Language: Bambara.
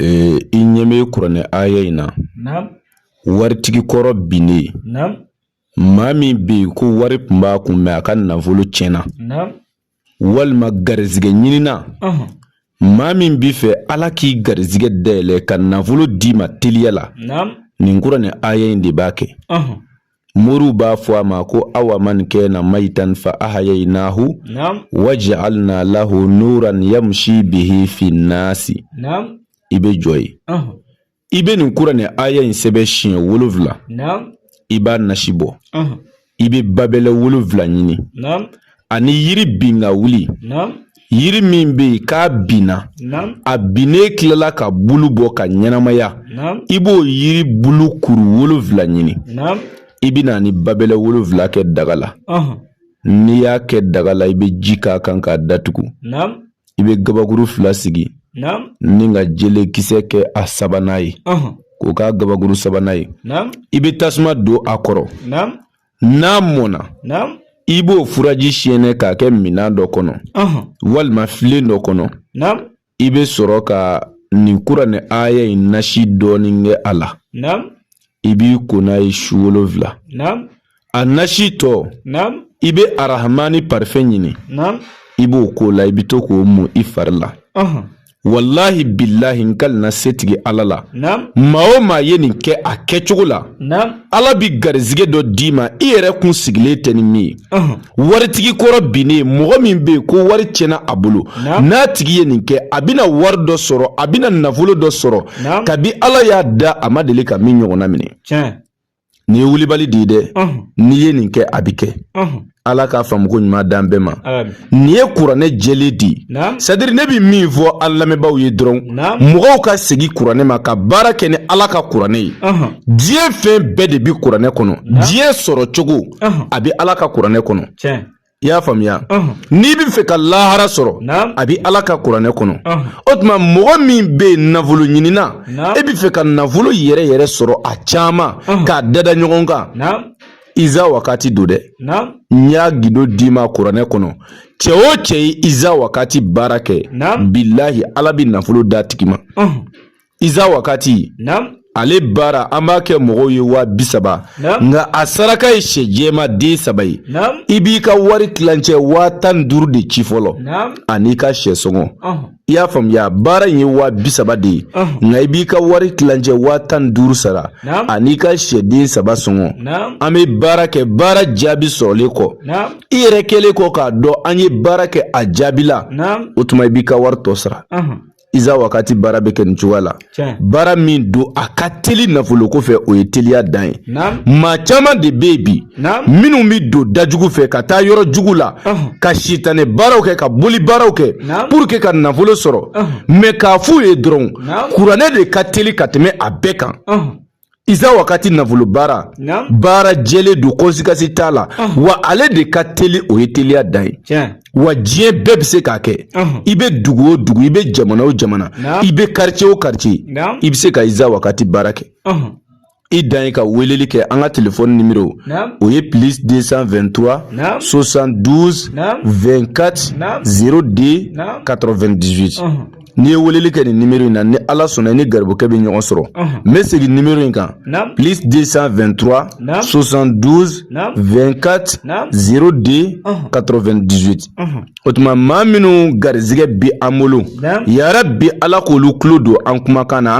Ee i ɲɛ bɛ kuranɛ aya in na waritigi kɔrɔ binnen maa min bɛ yen ko wari tun b'a kun mɛ a ka nafolo tiɲɛna walima garisɛgɛ ɲinina maa min bɛ fɛ ala k'i garisɛgɛ dayɛlɛ ka nafolo d'i ma teliya la nin kuranɛ aya in de b'a kɛ moriw b'a fɔ a ma ko awaman kana mayitan fa ahayayinahu wajaalna lahu nuran yamshi bihi finasi i bɛ jɔ yen i bɛ nin kuranɛ aya in sɛbɛn siɲɛ wolofila i b'a nasi bɔ i bɛ babɛlɛ wolofila ɲini ani yiri bin ka wuli yiri min bɛ yen k'a binna a binnen tilala ka bulu bɔ ka ɲɛnamaya i b'o yiri bulu kuru wolonfila ɲini i bɛ na ni babɛlɛ wolonfila kɛ daga la n'i y'a kɛ daga la i bɛ ji k'a kan k'a datugu i bɛ gabakuru fila sigi ni ka jele kisɛ kɛ a sabanan ye k'o k'a gabakuru sabanan ye i bɛ tasuma don a kɔrɔ n'a mɔnna i b'o furaji siyɛnɛ k'a kɛ minan dɔ kɔnɔ walima filen dɔ kɔnɔ i bɛ sɔrɔ ka nin kuranɛ aya in nasi dɔɔni kɛ a la i b'i ko n'a ye su wolonfila a nasi tɔ i bɛ arahamani parifɛn ɲini i b'o k'o la i bɛ to k'o mun i fari la walahi bilahi n kalenna setigi ala la maa o maa ye nin kɛ a kɛcogo la ala bi garisɛgɛ dɔ d'i ma i yɛrɛ kun sigilen tɛ ni min ye waritigi kɔrɔ binnen mɔgɔ min bɛ yen ko wari tiɲɛna a bolo n'a tigi ye nin kɛ a bɛna wari dɔ sɔrɔ a bɛna nafolo dɔ sɔrɔ kabi ala y'a da a ma deli ka min ɲɔgɔnna minɛ Nin ye wulibali de ye dɛ n'i ye nin kɛ a bɛ kɛ ala ka faamuko ɲuman d'an bɛɛ ma nin ye kuranɛ jɛlen de ye sadiri ne bɛ min fɔ an lamɛnbaaw ye dɔrɔn mɔgɔw ka segin kuranɛ ma ka baara kɛ ni ala ka kuranɛ ye diɲɛ fɛn bɛɛ de bɛ kuranɛ kɔnɔ diɲɛ sɔrɔ cogo a bɛ ala ka kuranɛ kɔnɔ i y'a faamuya n'i bɛ fɛ ka lahara sɔrɔ a bɛ ala ka kuranɛ kɔnɔ o tuma mɔgɔ min bɛ yen nafolo ɲinina e bɛ fɛ ka nafolo yɛrɛ yɛrɛ sɔrɔ a caman k'a dada ɲɔgɔn kan iza wakati don dɛ n y'a gindo d'i ma kuranɛ kɔnɔ cɛ o cɛ ye iza wakati baara kɛ bilahi ala bɛ nafolo d'a tigi ma Iza wakati naam ale baara an b'a kɛ mɔgɔw ye waa bi saba nka a saraka ye sɛ jɛma den saba ye i b'i ka wari tilancɛ waa tan ni duuru de ci fɔlɔ an'i ka sɛ sɔngɔ i y'a faamuya baara in ye waa bi saba de ye nka i b'i ka wari tilancɛ waa tan ni duuru sara an'i ka sɛ den saba sɔngɔ an bɛ baara kɛ baara jaabi sɔrɔlen kɔ i yɛrɛ kɛlen kɔ k'a dɔn an ye baara kɛ a jaabila o tuma i b'i ka wari tɔ sara iza wakati baara bɛ kɛ nin cogoya la baara min don a ka teli nafolo ko fɛ o ye teliya dan ye maa caman de bɛ yen bi minnu bɛ don dajugu fɛ ka taa yɔrɔ jugu la ka sitanɛ baaraw kɛ ka boli baaraw kɛ pour que ka nafolo sɔrɔ mais k'a f'u ye dɔrɔn kuranɛ de ka teli ka tɛmɛ a bɛɛ kan iza wakati nafolo baara baara jɛlen don conséquence t'a la wa ale de ka teli o ye teliya dan ye wa diɲɛ bɛɛ bɛ se k'a kɛ i bɛ dugu o dugu i bɛ jamana o jamana i bɛ quartier o quartier i bɛ se ka iza wakati baara kɛ i dan ye ka weleli kɛ an ka telefɔni numéro o ye plus 223 72 24 02 98 N'i ye weleli kɛ nin numéro in na ni Ala sɔnna i ni garibukɛ bɛ ɲɔgɔn sɔrɔ, ɔnhɔn, n bɛ segin numéro in kan, naamu, plus 223 naamu, 72 naamu, 24 naamu, 02 ɔnhɔn, 98 ɔnhɔn, o tuma maa minnu garizigɛ bɛ an bolo, naamu, yarabi Ala k'olu tulo don an kumakan na